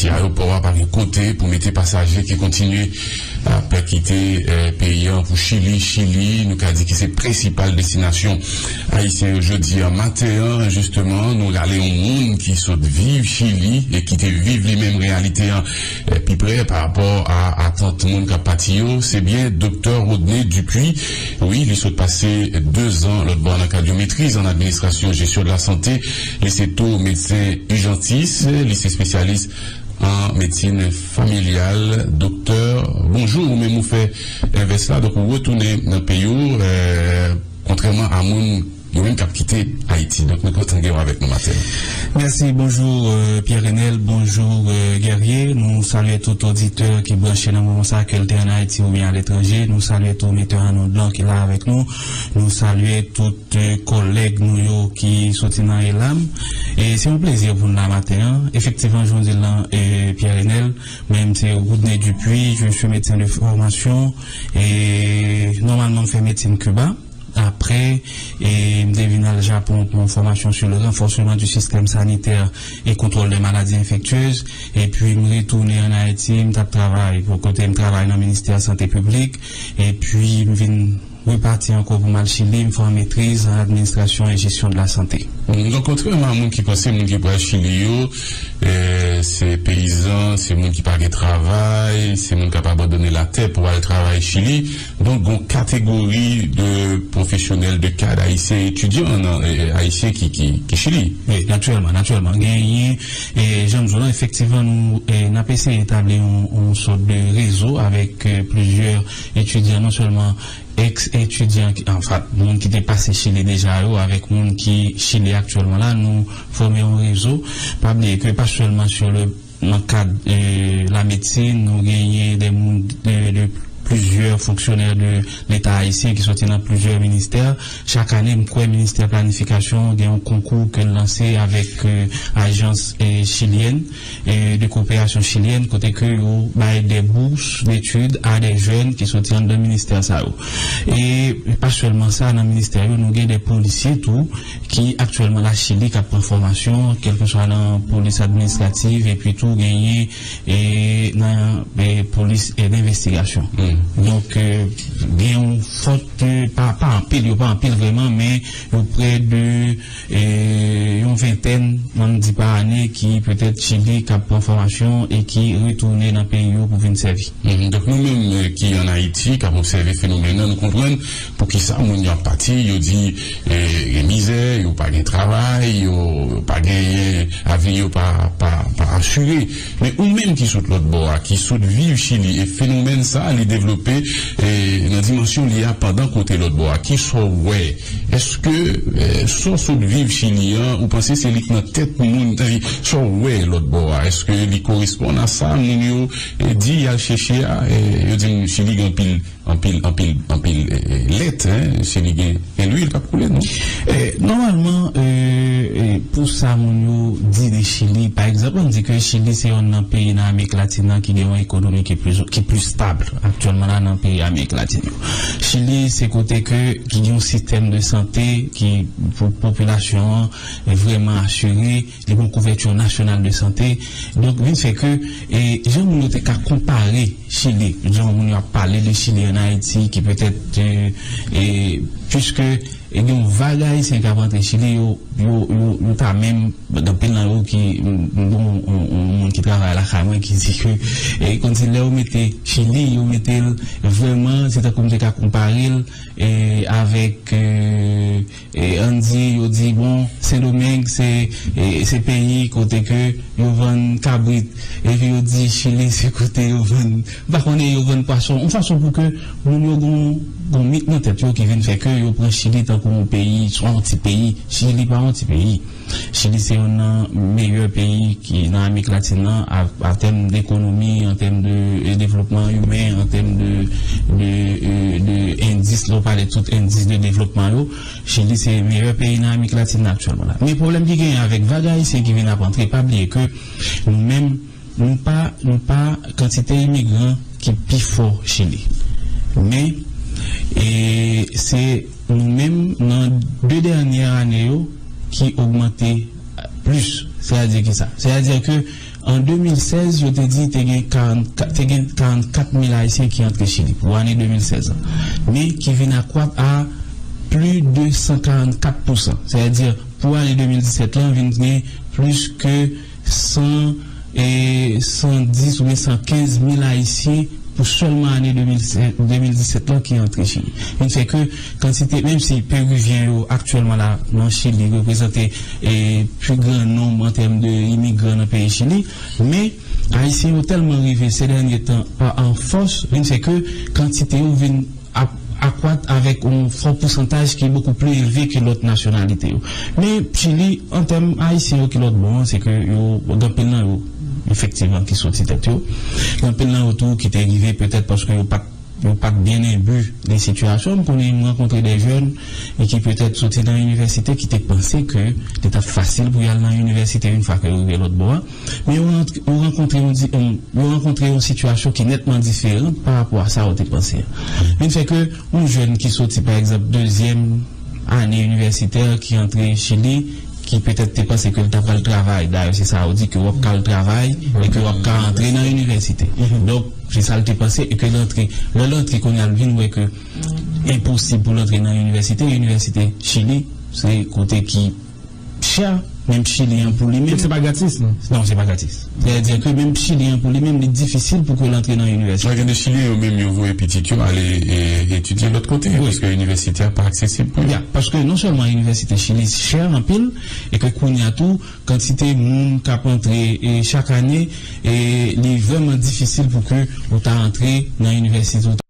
Ti ayopò a pa gen kote pou mete pasaje ki kontinye ap kite peyi an pou Chili, Chili nou ka di ki se prensipal destinasyon ayisyen yo jodi a. Maten an jisteman nou rale yon moun ki sot viv Chili e ki te viv li menm reyalite an pi prè pa rapò a atant moun k ap pati yo, se byen Doktè Rodney Dupuy. Wi li sot pase 2 zan lòtbò nan kad yon metriz an administrasyon jesyon de la sante. Li se tou medsen ijantis, li se spesyalis an medsin familyal, doktè. Bonjou, ou menm ou fè envès la, donk ou retounen nan peyi w, kontrèman a moun yo menm k ap kite Ayiti. Donk nou kontan gen w avèk nou maten an. Mèsi, bonjou Pierre Renel, bonjou Guerrier. Nou salye tout oditè ki branche nan moman sa a, ke l te an Ayiti oubyen aletranje. Nou salye tou Metè Arnold lan ki la avèk nou. Nou salye tout kòlèg nou yo ki soti nan Elam. Se yon plezi pou n la maten an. Efektivman, jan w di l lan, Pierre Enel, men m se Rodney Dupuy, je suis médecin de formation e nòmalman m fè medsin Kiba. Aprè, m te vin al Japon pou yon fòmasyon sou le renfòseman di sistèm sanitè e kontwòl dè maladi enfektyez. Epi m retounen an Ayiti, m t ap travay pou kote m travay nan ministè sante piblik. Epi m vin repati ankò pou m al Chili, m fè yon metriz an administrasyon e jesyon de la sante. Donk kontrèman a moun ki panse moun ki pral Chili yo se peyizan, se moun ki pa gen travay, se moun k ap abandone latè pou al travay Chili, donk gon kategori de pwofesyonèl, de kad ayisyen, etidyan ayisyen ki Chili. Wi, natirèlman, natirèlman. Genyen. E jan m di w lan, efektivman nou n ap eseye etabli yon sòt de rezo avèk plizyè etidyan, non sèlman èks etidyan ki anfa moun ki te pase Chili deja yo avèk moun ki Chili aktyèlman la, nou fòme yon rezo. Pa bliye ke pa sèlman sou le nan kad lamedsin, nou genyen de moun de plizyè fonksyonè de leta ayisyen ki sòti nan plizyè ministè. Chak ane, m kwè Ministè Planifikasyon gen yon konkou ke l lanse avèk ajans chilyèn de koperasyon chilyèn kote ke yo bay de bous detid a de jèn ki soti anndan ministè sa yo. E pa sèlman sa nan ministè yo nou gen de polisye tou ki aktyèlman la Chili k ap pran fòmasyon kèlkeswa nan polis administrativ epi tou genyen nan polis denvestigasyon. Donk gen yon fòt. Ke pa pa anpil, yo pa anpil vrèman, men yo prè de yon ventèn, ann di pa ane, ki petèt Chili, k ap pran fòmasyon e ki retounen nan peyi yo pou vin sèvi. Donk nou menm ki ann Ayiti, k ap obsève fenomèn nan, nou konprann pou ki sa moun yo ap pati, yo di gen mizè, yo pa gen travay, yo pa genyen, avni yo pa asire. Men ou menm ki sot lòt bò a, ki sot viv Chili e fenomèn sa li devlope nan dimansyon li a pandan kote lòt bò a, kisa w wè? Eske sa w sot viv Chili an, ou panse se li k nan tèt moun? Sa w wè lòt bò a, eske li koresponn a sa moun yo di y al chèche a? Yo di m Chili gen anpil. Anpil anpil anpil lèt hein si li gen gen lwil pap koule non. Nòmalman pou sa moun yo di de Chili pa egzanp ann di ke Chili se yonn nan peyi nan Amerik Latin nan ki gen yon ekonomi ki pli stab aktyèlman la nan peyi Amerik Latin yo. Chili se kote ke ki gen yon sistèm de sante ki pou popilasyon an vrèman asire. Li gon kouvèti nasyonal de sante. Donk vin fè ke jan moun yo te ka konpare Chili, jan moun yo ap pale de Chili an Ayiti ki petèt piske gen yon vag Ayisyen k ap antre Chili yo, yo pa menm gen anpil nan yo ki m gen yon moun ki travay lakay mwen ki di ke konsi lè yo mete Chili yo mete l vrèman se tankou m te ka konpare l avèk Ann di yo di bon Sendomeng se se peyi kote ke yo vann kabrit epi yo di Chili se kote yo vann m pa konnen yo vann pwason yon fason pou ke moun yo gon yon mit nan tèt yo ki vin fè ke yo pran Chili tankou yon peyi swa yon ti peyi Chili pa yon ti peyi. Chili se yonn nan meyè peyi ki nan Amerik Latin nan a tèm dekonomi, an tèm de devlopman imen, an tèm de de endis, lè w pale tout endis de devlopman yo, Chili se meyè peyi nan Amerik Latin nan aktyèlman la. Men pwoblèm ki genyen avèk vag ayisyen ki vin ap antre, pa bliye ke nou menm. Nou pa nou pa kantite imigran ki pi fò Chili. Men, e se nou menm nan de dènyè ane yo ki ogmante plis. Sètadi ki sa? Sètadi ke an 2016 yo te di te gen 44 te gen 44 mil Ayisyen ki antre Chili pou ane 2016 an. Men ki vin akwat a pli de 144 pousan. Sètadi pou ane 2017 lan vin gen plis ke. san, e, 110 oubyen 115 mil Ayisyen pou sèlman ane 2017 lan ki antre Chili. Vin fè ke kantite, menm si Peruvyen yo aktyèlman la nan Chili reprezante, e, pi gran nonb an tèm de imigran nan peyi Chili, men, Ayisyen yo tèlman rive se dènye tan an fòs, vin fè ke kantite yo vin. ap akwat avèk yon fò pousantaj ki bokou pli elve ke lòt nasyonalite yo. Men Chili, an tèm Ayisyen yo ki lòt bò an, se ke yo, gen anpil nan yo, efektivman ki soti tèt yo. Gen anpil nan yo tou ki te rive petèt paske yo pat, yo pat byen enbi de sitiyasyon an. M konnen, m rankontre de jèn e ki petèt soti nan inivèsite ki te panse ke li t ap fasil pou y al nan inivèsite yon fwa ke yo rive lòt bò a. men yo rankontre yon di, yo rankontre yon sitiyasyon ki nètman diferan pa rapò a sa yo te panse a. Vin fè ke yon jèn ki soti pa egzanp dezyèm ane inivèsitè ki antre Chili, ki petèt te panse ke li ta pral travay, dayè se sa yo di ke wap ka al travay e ke wap ka antre nan inivèsite. Donk, se sa l te panse e ke l antre. Lè l antre kounye a l vin wè ke enposib pou l antre nan inivèsite, inivèsite Chili se kote ki Psha! Men Pchili an pou li menm. Donk se pa gratis non? Non, se pa gratis. Sè di ke menm Pchili an pou li menm, li difisil pou ke l antre nan inivèsite. Mwen gen de Chilyen yo menm yo voye pitit yo ale etidye lòt kote paske inivèsite a pa aksesib pou yo. Ya, paske non sèlman inivèsite Chili chè anpil e ke kounye a tou kantite moun k ap antre chak ane li vrèman difisil pou ke ou ta antre nan inivèsite.